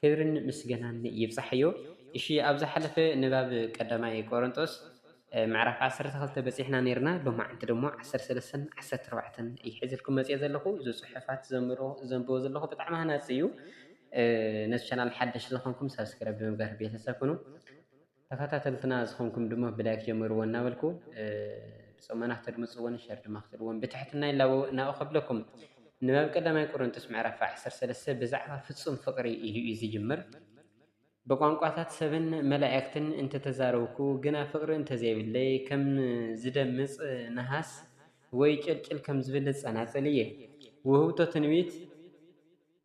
ክብርን ምስገናን ይብጻሕዮ እሺ ኣብ ዝሓለፈ ንባብ ቀዳማይ ቆሮንጦስ ምዕራፍ ዓሰርተ ክልተ በጺሕና ኔርና ሎማዓንቲ ደሞ ዓሰርተ ሰለስተን ዓሰርተ ኣርባዕተን እየ ሒዘልኩም መጽየ ዘለኹ እዚ ጽሑፋት ዘንብሮ ዘንብቦ ዘለኹ ብጣዕሚ ሃናጺ እዩ ነዚ ቻናል ሓደሽ ዝኾንኩም ሳብስክራይብ ብምግባር ቤተሰብ ኩኑ ተኸታተልትና ዝኾንኩም ድማ ብላይክ ጀምርዎ እናበልኩ ብጾመና ክትድምጽዎን ሸር ድማ ክትብልዎን ብትሕትና ይላበው እናኡ ከብለኩም ንባብ ቀዳማይ ቆሮንቶስ ምዕራፍ 13 ብዛዕባ ፍጹም ፍቕሪ ኢሉ እዩ ዝጅምር። ብቋንቋታት ሰብን መላእክትን እንተተዛረብኩ ግና ፍቕሪ እንተዘይብለይ ከም ዝደምጽ ነሃስ ወይ ጭልጭል ከም ዝብል ጸናጽል እየ። ውህብቶ ትንቢት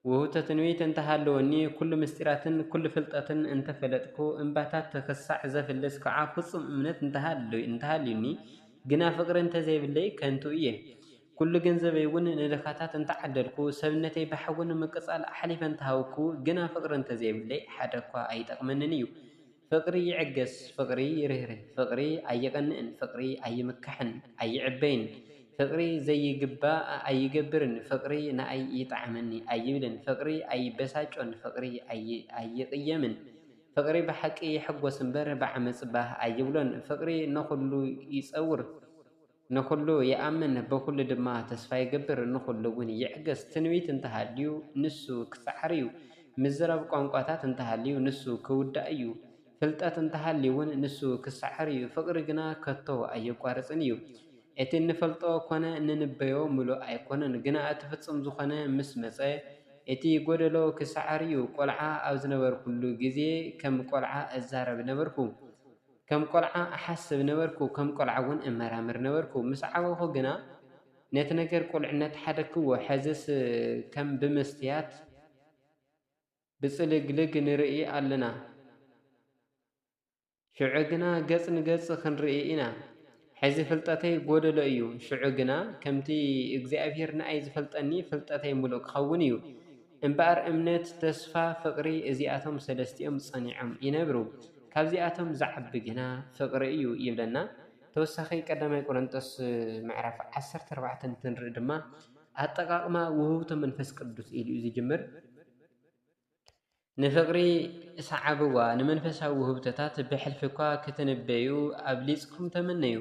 ውህብቶ ትንቢት እንተ ሃለወኒ፣ ኵሉ ምሥጢራትን ኵሉ ፍልጠትን እንተ ፈለጥኩ፣ እምባታት ኽሳዕ ዘፍልስ ከኣ ፍጹም እምነት እንተ ሃልዩኒ፣ ግና ፍቕሪ እንተ ዘይብለይ ከንቱ እየ። ኵሉ ገንዘበይውን ንድኻታት እንተ ዓደልኩ፣ ሰብነተይ ብሓዊ ንምቅጻል ኣሕሊፈ እንተ ሃብኩ፣ ግና ፍቕሪ እንተ ዘይብለይ ሓደ'ኳ ኣይጠቕመንን እዩ። ፍቕሪ ይዕገስ ፍቕሪ ይርህርህ ፍቕሪ ኣይቐንእን ፍቕሪ ኣይምካሕን ኣይዕበይን ፍቕሪ ዘይግባእ ኣይገብርን ፍቕሪ ንኣይ ይጥዓመኒ ኣይብልን ፍቕሪ ኣይበሳጮን ፍቕሪ ኣይቕየምን ፍቕሪ ብሓቂ ይሕጎስ እምበር ብዓመጽ ባህ ኣይብሎን ፍቕሪ ንኹሉ ይጸውር ንኹሉ ይኣምን ብኹሉ ድማ ተስፋ ይገብር ንኹሉ እውን ይዕገስ ትንቢት እንተሃልዩ ንሱ ክሰዓር እዩ ምዝራብ ቋንቋታት እንተሃልዩ ንሱ ክውዳእ እዩ ፍልጠት እንተሃልዩ እውን ንሱ ክሰዓር እዩ ፍቕሪ ግና ከቶ ኣየቋርጽን እዩ እቲ እንፈልጦ ኮነ እንንበዮ ምሉእ ኣይኮነን ግና እቲ ፍጹም ዝኾነ ምስ መጸ እቲ ጎደሎ ክሰዓር እዩ ቆልዓ ኣብ ዝነበርኩሉ ግዜ ከም ቆልዓ እዛረብ ነበርኩ ከም ቈልዓ እሓስብ ነበርኩ፣ ከም ቈልዓ እውን እመራመር ነበርኩ። ምስ ዓበኹ ግና፣ ነቲ ነገር ቍልዕነት ሓደግክዎ። ሕዝስ ከም ብመስትያት ብጽልግልግ ንርኢ ኣሎና፣ ሽዑ ግና ገጽ ንገጽ ኽንርኢ ኢና። ሕዚ ፍልጠተይ ጎደሎ እዩ፣ ሽዑ ግና ከምቲ እግዚኣብሄር ንኣይ ዝፈልጠኒ ፍልጠተይ ምሉእ ክኸውን እዩ። እምበኣር እምነት፣ ተስፋ፣ ፍቕሪ እዚኣቶም ሰለስቲኦም ጸኒዖም ይነብሩ፣ ካብዚኣቶም ዝዓቢ ግና ፍቕሪ እዩ ይብለና። ተወሳኺ ቀዳማይ ቆረንጦስ ምዕራፍ ዓሰርተ ኣርባዕተ እንትንርኢ ድማ ኣጠቓቕማ ውህብቶ መንፈስ ቅዱስ ኢሉ እዩ ዝጅምር። ንፍቕሪ ስዓብዋ፣ ንመንፈሳዊ ውህብቶታት ብሕልፊ እኳ ክትንበዩ ኣብሊጽኩም ተመነዩ።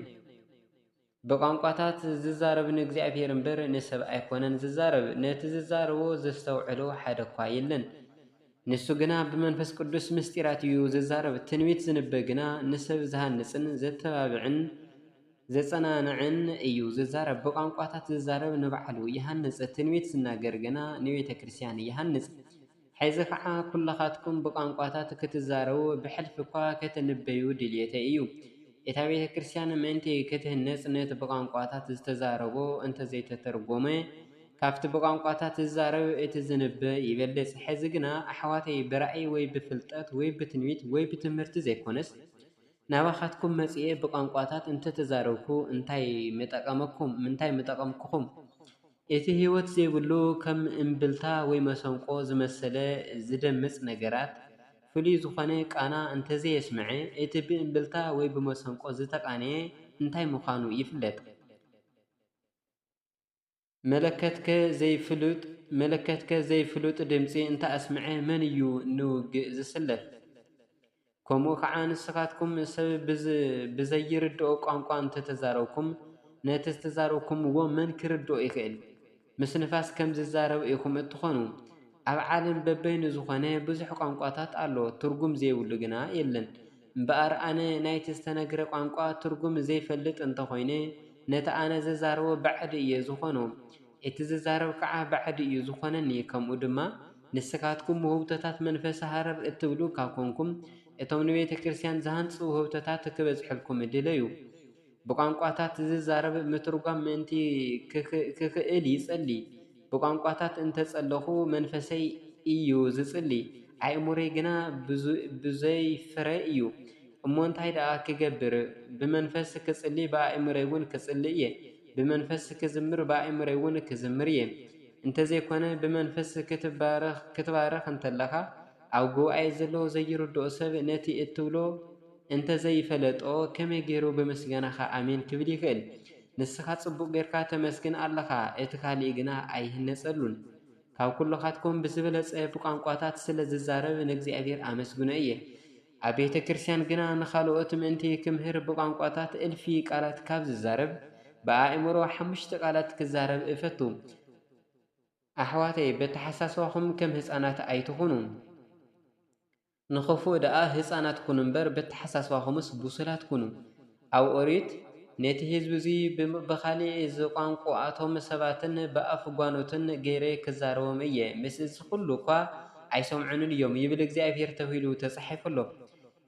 ብቛንቋታት ዚዛረብ ንእግዚኣብሄር እምበር ንሰብ ኣይኰነን ዚዛረብ፣ ነቲ ዚዛረቦ ዘስተውዕሎ ሓደ እኳ የለን። ንሱ ግና ብመንፈስ ቅዱስ ምስጢራት እዩ ዚዛረብ። ትንቢት ዚንበ ግና ንሰብ ዚሃንጽን ዜተባብዕን ዜጸናንዕን እዩ ዚዛረብ። ብቛንቋታት ዚዛረብ ንባዕሉ ይሃንጽ፣ ትንቢት ዚናገር ግና ንቤተ ክርስትያን ይሃንጽ። ሕዚ ኸዓ ኵልኻትኩም ብቛንቋታት ክትዛረቡ፣ ብሕልፊ እኳ ክትንበዩ ድልየተይ እዩ። እታ ቤተ ክርስቲያን ምእንቲ ክትህነጽ ነቲ ብቛንቋታት ዝተዛረቦ እንተ ዘይተተርጐመ፣ ካብቲ ብቛንቋታት ዝዛረብ እቲ ዝንበ ይበልጽ። ሕዚ ግና ኣሕዋተይ ብራእይ ወይ ብፍልጠት ወይ ብትንቢት ወይ ብትምህርቲ ዘይኰነስ ናባኻትኩም መጺኤ ብቛንቋታት እንተ ተዛረብኩ እንታይ ምጠቐመኩም? እንታይ ምጠቐምኩኹም? እቲ ህይወት ዘይብሉ ከም እምብልታ ወይ መሰንቆ ዝመሰለ ዝደምጽ ነገራት ፍሉይ ዝኾነ ቃና እንተዘየስመዐ፣ እቲ ብእምብልታ ወይ ብመሰንቆ ዝተቓነየ እንታይ ምዃኑ ይፍለጥ? መለከትከ ዘይፍሉጥ መለከትከ ዘይፍሉጥ ድምጺ እንተኣስመዐ፣ መን እዩ ንውግእ ዝስለፍ? ከምኡ ኸዓ ንስኻትኩም ሰብ ብዘይርድኦ ቛንቛ እንተተዛረብኩም ነቲ ዝተዛረብኩምዎ መን ክርድኦ ይኽእል? ምስ ንፋስ ከም ዝዛረብ ኢኹም እትኾኑ። ኣብ ዓለም በበይኑ ዝኾነ ብዙሕ ቛንቛታት ኣሎ ትርጉም ዘይብሉ ግና የለን። እምበኣር ኣነ ናይቲ ዝተነግረ ቛንቛ ትርጉም ዘይፈልጥ እንተኾይነ ነቲ ኣነ ዝዛረቦ ባዕዲ እየ ዝኾኖ። እቲ ዝዛረብ ከዓ ባዕዲ እዩ ዝኾነኒ ከምኡ ድማ ንስካትኩም ውህብቶታት መንፈሰ ሃረር እትብሉ ካብ ኮንኩም እቶም ንቤተ ክርስትያን ዝሃንጹ ውህብቶታት ክበጽሕልኩም ድለዩ ብቋንቋታት ዝዛረብ ምትርጓም ምእንቲ ክክእል ይጸሊ ብቋንቋታት እንተጸለኹ መንፈሰይ እዩ ዝጽሊ ኣእምሮይ ግና ብዙይ ፍረ እዩ እሞ እንታይ ደኣ ክገብር ብመንፈስ ክጽሊ ብኣእምሮይውን ክጽሊ እየ ብመንፈስ ክዝምር ብኣእምሮይ ውን ክዝምር እየ እንተዘይኮነ ብመንፈስ ክትባረኽ እንተለኻ ኣብ ጉባኤ ዘሎ ዘይርድኦ ሰብ ነቲ እትብሎ እንተዘይፈለጦ ከመይ ገይሩ ብምስጋናኻ ኣሜን ክብል ይኽእል ንስኻ ጽቡቕ ገርካ ተመስግን ኣለኻ እቲ ካልእ ግና ኣይህነጸሉን ካብ ኩሎኻትኩም ብዝበለጸ ብቋንቋታት ስለ ዝዛረብ ንእግዚኣብሄር ኣመስግኖ እየ ኣብ ቤተ ክርስቲያን ግና ንኻልኦት ምእንቲ ክምህር ብቋንቋታት እልፊ ቃላት ካብ ዝዛረብ ብኣእምሮ ሓሙሽተ ቃላት ክዛረብ እፈቱ። ኣሕዋተይ በተሓሳስባኹም ከም ህፃናት ኣይትኹኑ። ንኽፉእ ደኣ ህፃናት ኩኑ እምበር በተሓሳስባኹምስ ብሱላት ኩኑ። ኣብ ኦሪት ነቲ ህዝቢ እዙይ ብኻሊእ እዚ ቋንቁኣቶም ሰባትን ብኣፍ ጓኖትን ገይረ ክዛረቦም እየ ምስ እዚ ኹሉ እኳ ኣይሰምዑንን እዮም ይብል እግዚኣብሄር ተብሂሉ ተፃሒፉ ኣሎ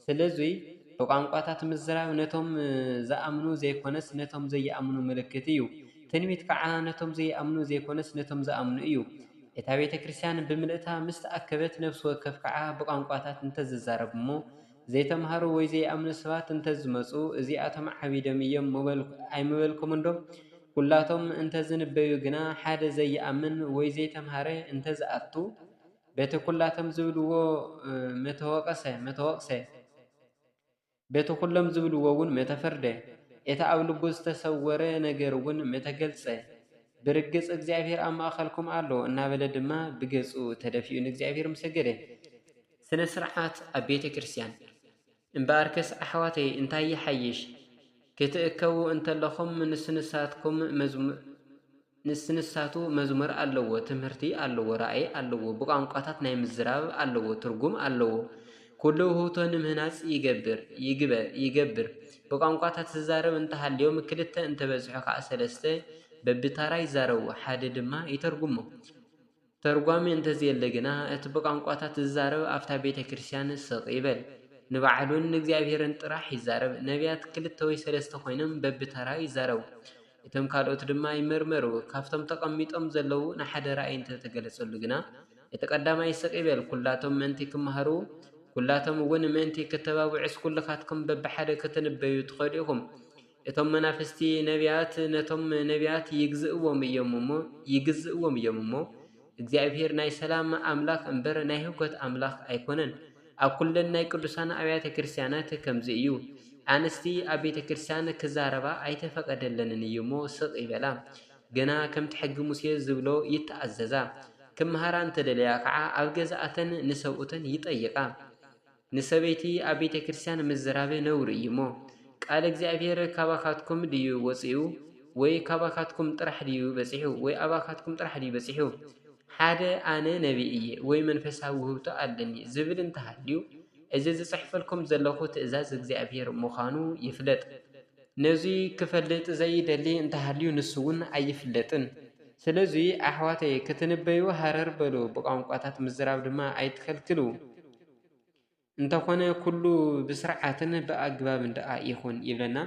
ስለዙይ ብቋንቋታት ምዝራብ ነቶም ዝኣምኑ ዘይኮነስ ነቶም ዘይኣምኑ ምልክት እዩ ትንቢት ከዓ ነቶም ዘይኣምኑ ዘይኮነስ ነቶም ዝኣምኑ እዩ እታ ቤተክርስቲያን ብምልእታ ምስ ተኣከበት ነፍሲ ወከፍ ከዓ ብቋንቋታት እንተዝዛረብ እሞ ዘይተምሃሩ ወይ ዘይኣምኑ ሰባት እንተዝመጹ እዚኣቶም ዓቢዶም እዮም ምበልኩ ኣይምበልኩምንዶ? ኩላቶም እንተዝንበዩ ግና ሓደ ዘይኣምን ወይ ዘይተምሃረ እንተዝኣቱ በቲ ኩላቶም ዝብልዎ ምተወቕሰ በቲ ኩሎም ዝብልዎውን ምተፈርደ እቲ ኣብ ልቡ ዝተሰወረ ነገርውን ምተገልጸ። ብርግጽ እግዚኣብሔር ኣብ ማእከልኩም ኣሎ እናበለ ድማ ብገጹ ተደፊኡ ንእግዚኣብሔር ምሰገደ። ስነ ስርዓት ኣብ ቤተ ክርስትያን። እምበኣርከስ ኣሕዋተይ እንታይ ይሓይሽ፣ ክትእከቡ እንተለኹም ንስንሳትኩም መዝሙር ንስንሳቱ መዝሙር ኣለዎ፣ ትምህርቲ ኣለዎ፣ ራእይ ኣለዎ፣ ብቋንቋታት ናይ ምዝራብ ኣለዎ፣ ትርጉም ኣለዎ። ኩሉ ውህብቶ ንምህናጽ ይገብር፣ ይግበ፣ ይገብር። ብቋንቋታት ዝዛረብ እንተሃልዮም ክልተ እንተበዝሑ ከኣ ሰለስተ በብታራ ይዛረቡ፣ ሓደ ድማ ይተርጉሞ። ተርጓሚ እንተዘየለ ግና እቲ ብቛንቋታት ዝዛረብ ኣብታ ቤተ ክርስቲያን ስቕ ይበል። ንባዕሉን ንእግዚኣብሔርን ጥራሕ ይዛረብ። ነብያት ክልተ ወይ ሰለስተ ኮይኖም በብተራ ይዛረቡ። እቶም ካልኦት ድማ ይምርመሩ። ካብቶም ተቐሚጦም ዘለዉ ንሓደ ራእይ እንተተገለጸሉ ግና እቲ ቀዳማይ ስቕ ይበል። ኩላቶም ምእንቲ ክመሃሩ ኩላቶም እውን ምእንቲ ክተባብዑስ ኩልኻትኩም በብሓደ ክትንበዩ ትኸእሉ ኢኹም። እቶም መናፍስቲ ነብያት ነቶም ነብያት ይግዝእዎም እዮም እሞ ይግዝእዎም እዮም እሞ እግዚኣብሄር ናይ ሰላም ኣምላኽ እምበር ናይ ህውከት ኣምላኽ ኣይኮነን ኣብ ኩለን ናይ ቅዱሳን ኣብያተ ክርስቲያናት ከምዚ እዩ ኣንስቲ ኣብ ቤተ ክርስቲያን ክዛረባ ኣይተፈቐደለንን እዩ እሞ ስቕ ይበላ ገና ከምቲ ሕጊ ሙሴ ዝብሎ ይተኣዘዛ ክመሃራ እንተደለያ ከዓ ኣብ ገዛኣተን ንሰብኡተን ይጠይቓ ንሰበይቲ ኣብ ቤተ ክርስቲያን ምዝራብ ነውሪ እዩሞ፣ ቃል እግዚኣብሔር ካባኻትኩም ድዩ ወፂኡ? ወይ ካባኻትኩም ጥራሕ ድዩ በፂሑ? ወይ ኣባኻትኩም ጥራሕ ድዩ በፂሑ? ሓደ ኣነ ነቢይ እየ ወይ መንፈሳዊ ውህብቶ ኣለኒ ዝብል እንተሃልዩ፣ እዚ ዝፅሕፈልኩም ዘለኹ ትእዛዝ እግዚኣብሔር ምዃኑ ይፍለጥ። ነዙይ ክፈልጥ ዘይደሊ እንተሃልዩ ንሱውን ኣይፍለጥን። ስለዙይ ኣሕዋተየ ክትንበዩ ሃረር በሉ፣ ብቋንቋታት ምዝራብ ድማ ኣይትኸልክሉ። እንተኾነ ኩሉ ብስርዓትን ብኣግባብን ደኣ ይኹን ይብለና።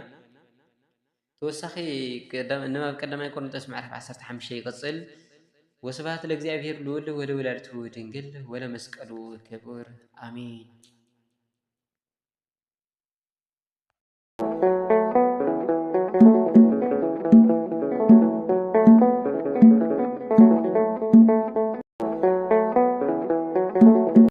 ተወሳኺ ንባብ ቀዳማይ ቆርንጦስ ምዕራፍ ዓሰርተ ሓሙሽተ ይቕጽል። ወስብሓት ለእግዚኣብሄር ልዑል ወለወላዲቱ ድንግል ወለመስቀሉ ክቡር ኣሜን።